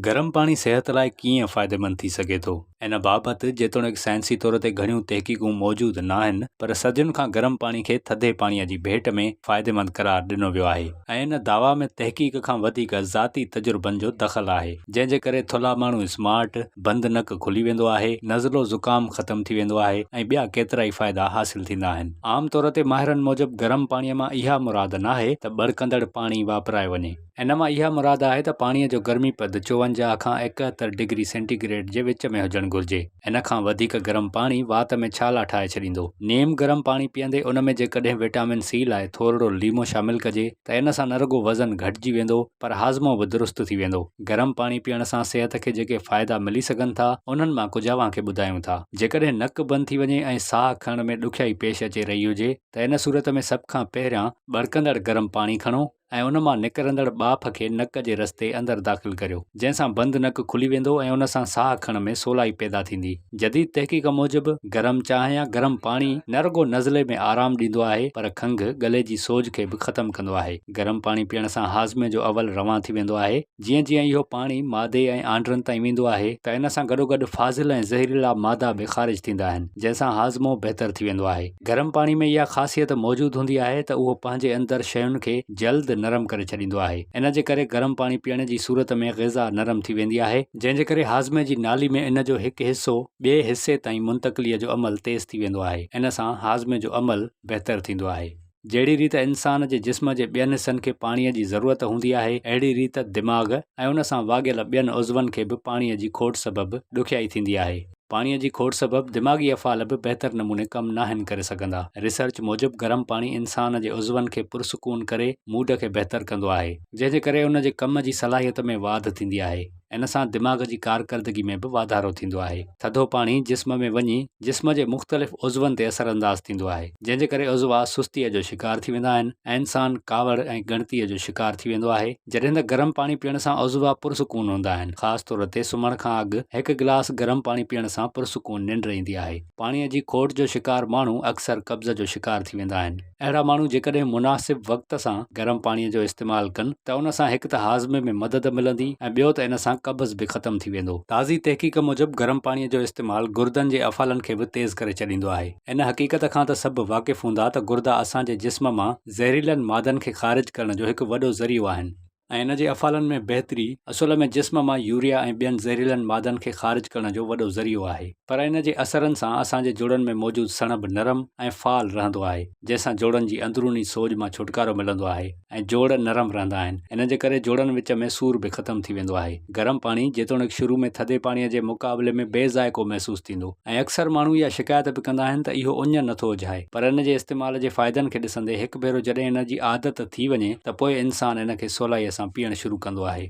گرم پاڻي صحت لاء ڪيئن فائديمند ٿي سگهي ٿو؟ ان بابت جيتوڻيڪ سائنسي طور تي گهڻيون تحقيقون موجود ناهن پر صدين کان گرم پاڻي کي ٿڌي پاڻيء جي ڀيٽ ۾ فائديمند قرار ڏنو ويو آهي ۽ ان دعويٰ ۾ تحقيق کان وڌيڪ ذاتي تجربن جو دخل آهي جنهن جي ڪري ٿلها ماڻهو اسمارٽ، بند نڪ کلي ويندو آهي، نزلو زڪام ختم ٿي ويندو آهي ۽ ٻيا ڪيترائي فائدا حاصل ٿيندا آهن. عام طور تي ماهرن موجب گرم پاڻيء مان اها مراد ناهي ته ٻڙڪندڙ پاڻي واپرايو وڃي. ان مان اها مراد آهي ته پاڻيء جو گرمي پد چوونجاهه کان ايڪهتر ڊگري سينٽي گريڊ جي وچ ۾ هجڻ گهرجي. ان کان وڌيڪ گرم پاڻي وات ۾ ڇالا ٺاهي ڇڏيندو. نيم گرم پاڻي پيئندي ان ۾ جيڪڏهن وٽامن سي لاء ٿورڙو ليمو شامل ڪجي ته ان سان نه رڳو وزن گهٽجي ويندو پر هاضمو به درست ٿي ويندو. گرم پاڻي پيئڻ سان صحت کي جيڪي فائدا ملي سگهن ٿا انهن مان ڪجهه اوهان کي ٻڌايون ٿا. جيڪڏهن نڪ بند ٿي وڃي ۽ ساهه کڻڻ ۾ ڏکيائي پيش اچي رهي هجي ته ان صورت ۾ سڀ کان پهريان ٻڙڪندڙ گرم پاڻي کڻو. ۽ ان مان نڪرندڙ ٻاڦ کي نڪ جي رستي اندر داخل ڪريو، جنهن سان بند نڪ کلي ويندو ۽ ان سان ساهه کڻڻ ۾ سولائي پيدا ٿيندي. جديد تحقيق موجب گرم چانهه يا گرم پاڻي نه رڳو نزلي ۾ آرام ڏيندو آهي پر کنگهه، ڳلي جي سوڄ کي به ختم ڪندو آهي. گرم پاڻي پيئڻ سان هاضمي جو عول روان ٿي ويندو آهي. جيئن جيئن اهو پاڻي معدي ۽ آنڊرن تائين ويندو آهي ته ان سان گڏوگڏ فاضل ۽ زهريلا مادا به خارج ٿيندا آهن جنهن سان هاضمو بهتر ٿي ويندو آهي. گرم پاڻي ۾ اها خاصيت موجود هوندي آهي ته اهو پنهنجي اندر شين کي جلد نرم ڪري ڇڏيندو آهي ان جي ڪري گرم پاڻي پيئڻ جي صورت ۾ غذا نرم ٿي ويندي آهي جنهن جي ڪري هاضمي جي نالي ۾ ان جو هڪ حصو ٻئي حصي تائين منتقلي جو عمل تيز ٿي ويندو آهي ان سان هاضمي جو عمل بهتر ٿيندو آهي. جهڙي ريت انسان جي جسم جي ٻين حصن کي پاڻيء جي ضرورت هوندي آهي، اهڙي ريت دماغ ۽ ان سان واڳيل ٻين عضون کي به پاڻيء جي کوٽ سبب ڏکيائي ٿيندي آهي. پاڻيء جي کوٽ سبب دماغي افعال به بهتر نموني ڪم ناهن ڪري سگهندا. ريسرچ موجب گرم پاڻي انسان جي عضون کي پرسڪون ڪري موڊ کي بهتر ڪندو آهي، جنهن جي ڪري ان جي ڪم جي صلاحيت ۾ واڌ ٿيندي آهي. ان سان دماغ جي ڪارڪردگي ۾ به واڌارو ٿيندو آهي. ٿڌو پاڻي جسم ۾ وڃي جسم جي مختلف عضون تي اثر انداز ٿيندو آهي، جنهن جي ڪري عضوا سستيء جو شڪار ٿي ويندا آهن ۽ انسان ڪاوڙ ۽ ڳڻتيء جو شڪار ٿي ويندو آهي، جڏهن ته گرم پاڻي پيئڻ سان عضوا پرسڪون هوندا آهن، خاص طور تي سمهڻ کان اڳ هڪ گلاس گرم پاڻي پيئڻ سان پرسڪون ننڊ ايندي آهي. پاڻيء جي کوٽ جو شڪار ماڻهو اڪثر قبض جو شڪار ٿي ويندا آهن. اهڙا ماڻهو جيڪڏهن مناسب وقت سان گرم پاڻي جو استعمال ڪن ته ان سان هڪ ته هاضمي ۾ مدد ملندي ۽ ٻيو ته ان سان قبض به ختم ٿي ويندو. تازي تحقيق موجب گرم پاڻي جو استعمال گردن جي افعالن کي به تيز ڪري ڇڏيندو آهي. ان حقيقت کان ته سڀ واقف هوندا ته گردا اسان جي جسم مان زهريلن مادن کي خارج ڪرڻ جو هڪ وڏو ذريعو آهن. ۽ ان جي افعالن ۾ بهتري اصل ۾ جسم مان يوريا ۽ ٻين زهريلن مادن کي خارج ڪرڻ جو وڏو ذريعو آهي پر ان جي اثرن سان اسان جي جوڙن ۾ موجود سڻڀ نرم ۽ فعال رهندو آهي جنهن سان جوڙن جي اندروني سوڄ مان ڇوٽڪارو ملندو آهي ۽ جوڙ نرم رهندا آهن ان جي ڪري جوڙن وچ ۾ سور به ختم ٿي ويندو آهي. گرم پاڻي جيتوڻيڪ شروع ۾ ٿڌي پاڻي جي مقابلي ۾ بي ذائقو محسوس ٿيندو ۽ اڪثر ماڻهو اها شڪايت به ڪندا آهن ته اهو اڃ نٿو اجهائي پر ان جي استعمال جي فائدن کي ڏسندي هڪ ڀيرو جڏهن ان جي عادت ٿي وڃي ته پوء انسان ان کي سولائيء سان پيئڻ شروع ڪندو آهي.